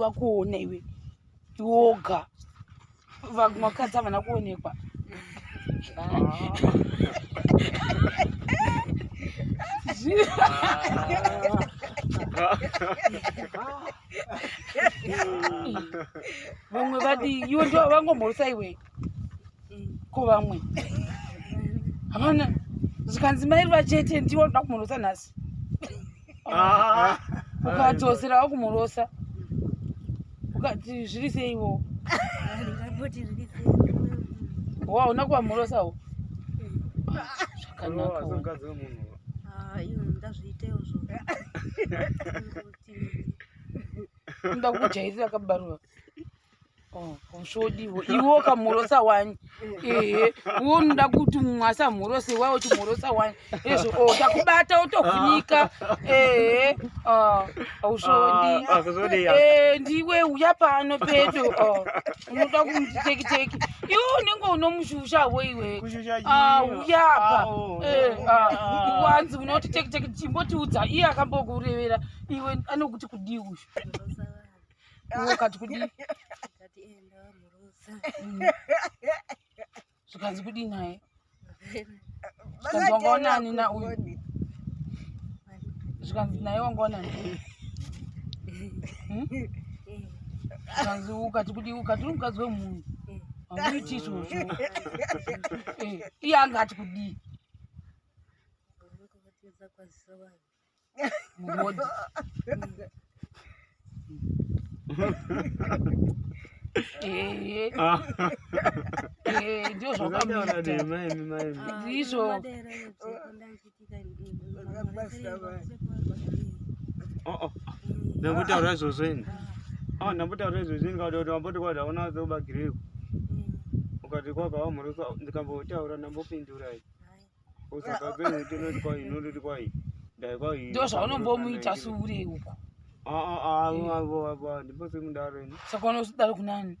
vakuona iwe iwoga vamwe vakadzi havana kuonekwa vamwe vadi iwe ndo vangomhorisa iwe ko vamwe havana zvikanzi mai ruva chete ndiwo ndoda kumurosa nhasi ah. ukadzosera wakumurosa ukati zviri seiwo wa una kuvamurosa wo zvakanaka nda kukujairira kabaruva zvodiwo oh, iwe ukamhorosa wani ehe uwo unoda kuti mumwe asamhorosa iwa uchimhorosa wani ezvo o oh, takubata otofunika ehe auzvodi ah, ah, eh, ndiwe uya pano pedo oh, unoda kumutekiteki iwe unenge unomushusha wo iwe ah, uya pa eh, wanzi unoti tekiteki chimbotiudza iye akambokurevera iwe anokuti kudii uyu ukati kudi zvikanzi kudi naye zvikanzi wangaonani na uyu zvikanzi naye wangaonani hmm? zvikanzi ukati kudi ukati uri mukadzi wemunhu hanguiti izvozvo eh, iye anga ati kudii Muhodhi. Eh, Ah. eh, ndio Zvakanyora zvakamuita. dema imi maimi. Ah, Ndizvo. ino madera iyo dziko ndaichitika ini, ini, ini, Vakabasa ini, vaya. Oh oh. Ndambotaura izvozvo ini. Ah, ndambotaura izvozvo ini kuti wamboti kwada hauna zobagireko. Ukati kwaka wamhorosa ndikambotaura ndambopindura ini. ndo zvaonombomuita sure uko saka unosidaro kunani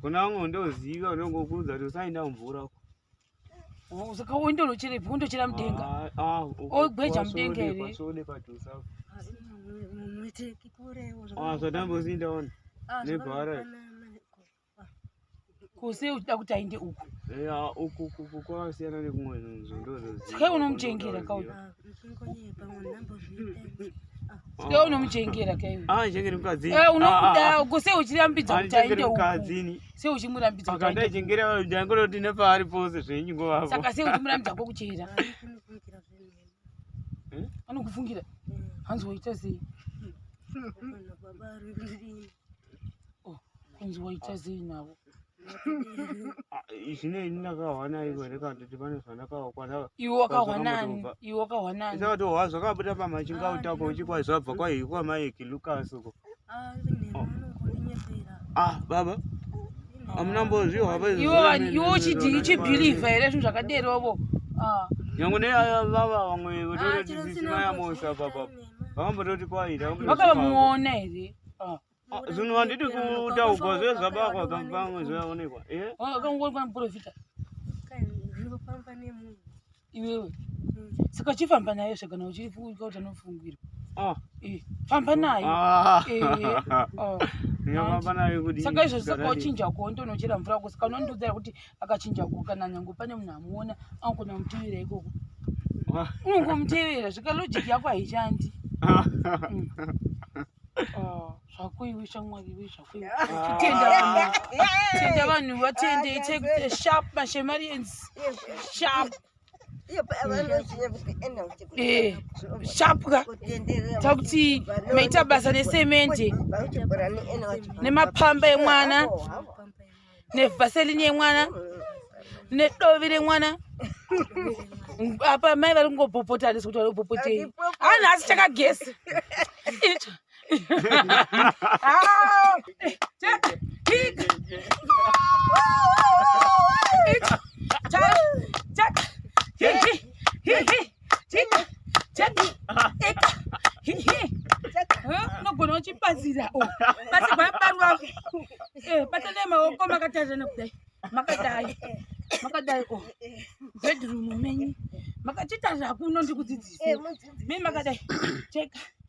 kunango ndoziva unongokuudza kuti usaenda mvura uko saka uende unocherepi undochera mudenga ogweja mudenga here zvatambozindaona nebhara kuse uchida kuti aende uku uku kwakasiyana nekumwe nzvimboske unomuchengera kauke unomuchengera kaunomuda kuse uchirambidza kuti aende uku se uchimurambidza kutaichengera ndangoti nepaari pose zvenyu ngovavo saka se uchimurambidza kwokuchera anokufungira hanzi waita sei kunzi waita zii navo ah, zvinei ndakahwana ivo here kana kuti pane zvandakahwa iwe wakahwanani iwe wakahwanani ndakatohwa zvakabuda pamachinga ah, utako uchikwa zvabva kwaiyi kwamaiki lukas uko ah, oh. ah baba amuna mbozvihwa iwe uchidii uchibhilivha here zvinhu zvakaderovo nyange neaya vava vamwe votoretisisina yamosa papa vakambototi kwaita vakavamuona here Ah. Ah, zvinhu handiti kutaugwa zve zvabakwa pamwe zvaonekwa eh? ah, akangoona panoprofita iwewe hmm. saka chifamba nayo saka na uchifuka kuti anofungirwa ah. eh, famba nayo eh, saka izvozvi saka uchinja kuondonochera mvura kusaka unondiudzira kuti akachinja ku kana nyange pane munhu amuona anogona kumutevera ikoko ah. unongomutevera zvika logic yako haishandi ah. mm. ah, zvakoiwe shamwari iwe zvakoiwetenda vanhu vatendei take the sharp mashemarians sharp Eh, shapwa takuti maita basa nesemende nemapamba emwana nevhaselini yemwana nedovi remwana apa mai vari kungobhopotanis kuti vari kubhopotei anhasi chakagesa unogona uchipazira pasi paparwa patane maoko makatazana kudai makadai makadai o bedroom menyu makachita zvakuno ndikudzidzisa mi makadai cheka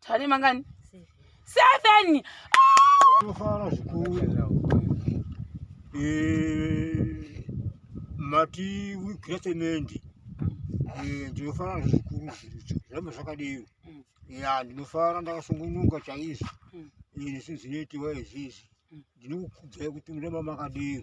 tari mangani seven tofara zvikuru eh, mati wikretemendi eh, ndinofara zvikuru zviramba zvakadero mm. ya ndinofara ndakasungunuka chaizvo mm. ini eh, sizinoitiwa izvizvi ndinokukudzai kuti murema makadero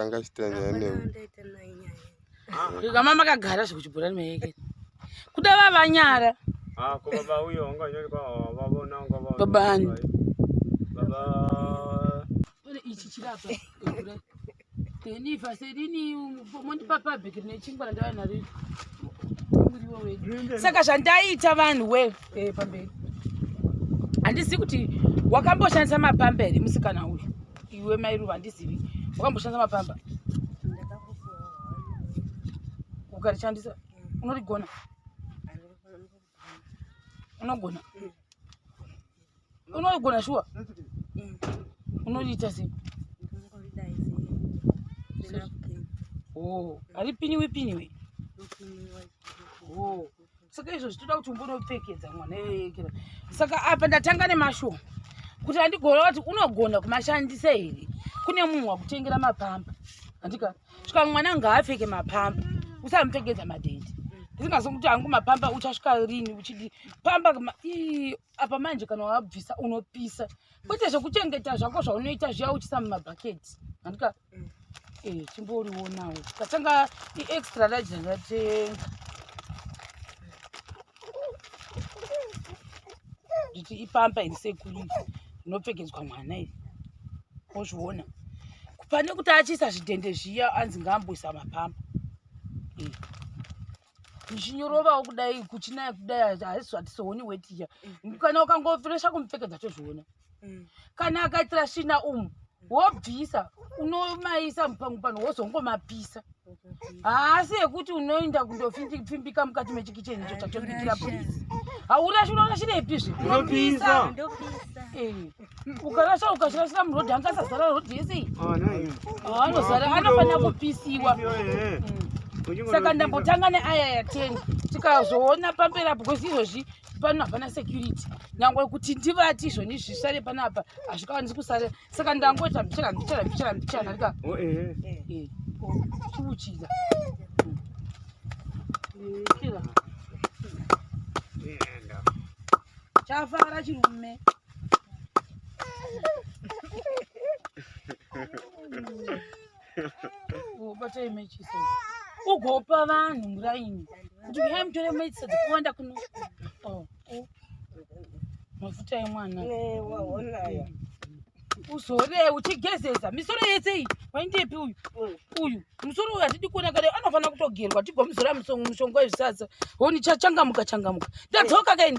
angachita nyaya newe kamama kagara zvekuchibhurani mayeke kuda vavanyara ah, babani ichi chirapa then if i said ini mondipa public nechingwa randava naro muriwo wedu saka zvandaita vanhu we eh, pamberi handizivi kuti wakamboshandisa mapamba here musikana uyu iwe mairuva handizivi wakamboshandisa mapamba ukarishandisa unorigona unogona mm. unogona shuwa mm. unoriita sei oh, haripiniwi piniwi oh, saka izvo zvitoda kuti umbonopfekedza mwana yoyekera saka apa ndatanga nemashoma kuti andigona kuti unogona kumashandisa here kune munhu wakutengera mapamba andika svika mwana ngaapfeke mapamba usamupfekedza madhende ndisingazokuti hangu mapamba uchasvika rini uchidi pamba apa manje kana wabvisa unopisa kwete zvekuchengeta zvako zvaunoita zviya uchisa mumabhaketi andika mm. eh, chimboriwonawo tatanga iextra large ndatenga nditi ipampa iri sekuri inopfekedzwa mwana iri ozviona pane kuti achiisa zvidhende zviya anzi ngaamboisa mapampa eh. zvinyorovawo kudai kuchinaya kudai haisi zvatisooni wetiya mm. kana ukangofiresha kumupfekedza tozviona mm. kana akaitira svina umu wobvisa unomaisa mupango pano wozongomapisa haasi yekuti unoenda kundopfimbika mukati mechikicheni icho chatobikira purizi haurashinourashirepizve unopisa eh. ukarasha ukashirashira murodhi angasazara rodhi yese iyi ah, anozara ah, anofanira kupisiwa eh. mm. saka ndambotanga neaya ya ten tikazoona pamberi apo kwesi izvozvi pano hapana security nyangwe kuti ndivati izvoni zvisare pano apa hazvikawanisi kusara saka ndangoita mbichana mbichana mbichana mbichana rika oh, eh. eh, chiuchira chafara chirume ubata imechisa ugopa vanhu muraini kuti uyai mutore mechisa dzakawanda kuno oh, oh. mafuta emwana uzore uchigezeza misoro yese iyi waindepi uyu uyu musoro uyu hatidi kuona kare anofanira kutogerwa tigomuzora mushonga wezvisasa honi chachangamuka changamuka ndadzoka kaini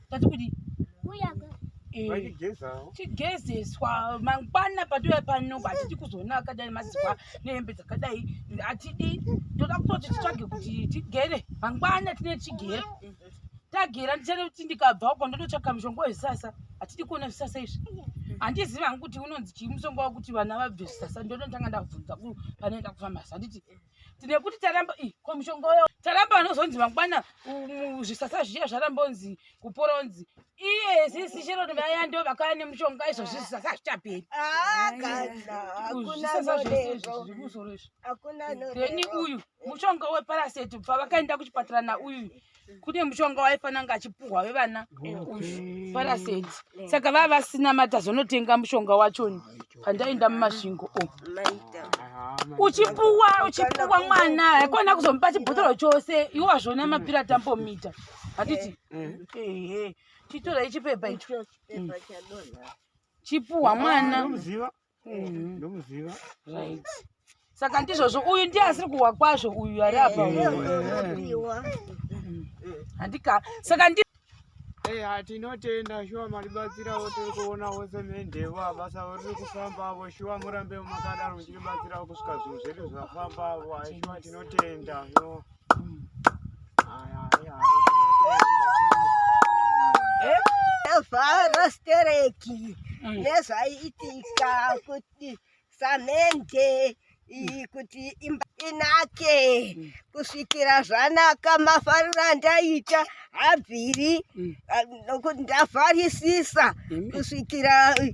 tati kuti tigezeswa eh, mangwana patouya pano hatidi kuzoona akadai mazizwa nehembe dzakadai hatidi toda kutoti titsvage kuti tigere mangwana tine tigere tagera ndichada kuti ndikabva uko ndototsvaka mushonga wezvisasa hatidi kuona zvisasa izvi handizivi hangu kuti unonzi chii musonga wakuti vana vabve zvisasa ndonotanga ndabvunza panoenda kufamasi handiti tine kuti taramba i ko mushonga uyo taramba vanozonzi mangwana zvisasa zviya zvarambonzi kuporonzi iye sisi chero vaya ndo vakaya nemushonga izvo zvisasa zvichaperi zvisasazvizvikusorozvi then uyu mushonga weparaseti bva vakaenda kuchipatara nauyu Mm. kune mushonga waifanira kunge achipuhwa vevana paraseti mm. saka vava vasina mata zvonotenga mushonga wachoni pandaenda mumasvingo o oh. uchipuwa uchipuwa mwana haikona kuzomupa chibhotoro chose iwo wazvona mm. mapira tambomita handiti chitorai chipepa icho chipuwa mwana mm-hmm. ndomuziva right saka ndizvozvo uyu ndiye asiri kuhwa kwazvo uyu ari apa handika saka ndi Hey, hatinotenda shuwa malibatsirawo tiri kuonawo semendhevo abasa riri kufambavo shuwa murambe makadaro muchiribatsirawo kusvika zvinhu zvedu zvafambavo aishuwa tinotenda no Varastereki mm. nezvaiitika kuti samende iyi kuti imba inake mm. kusvikira zvanaka mafariro andaita habviri mm. nokuti ndavharisisa kusvikira mm.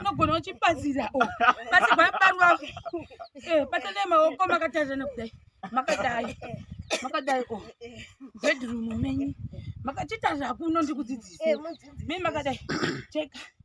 unogona uchibatsira oh. basi gwaparwa eh, patanai maoko makatarirana kudai makadai makadai o oh. bedroom menyu makachitarira kuno ndikudzidzise eh, mi makadai cheka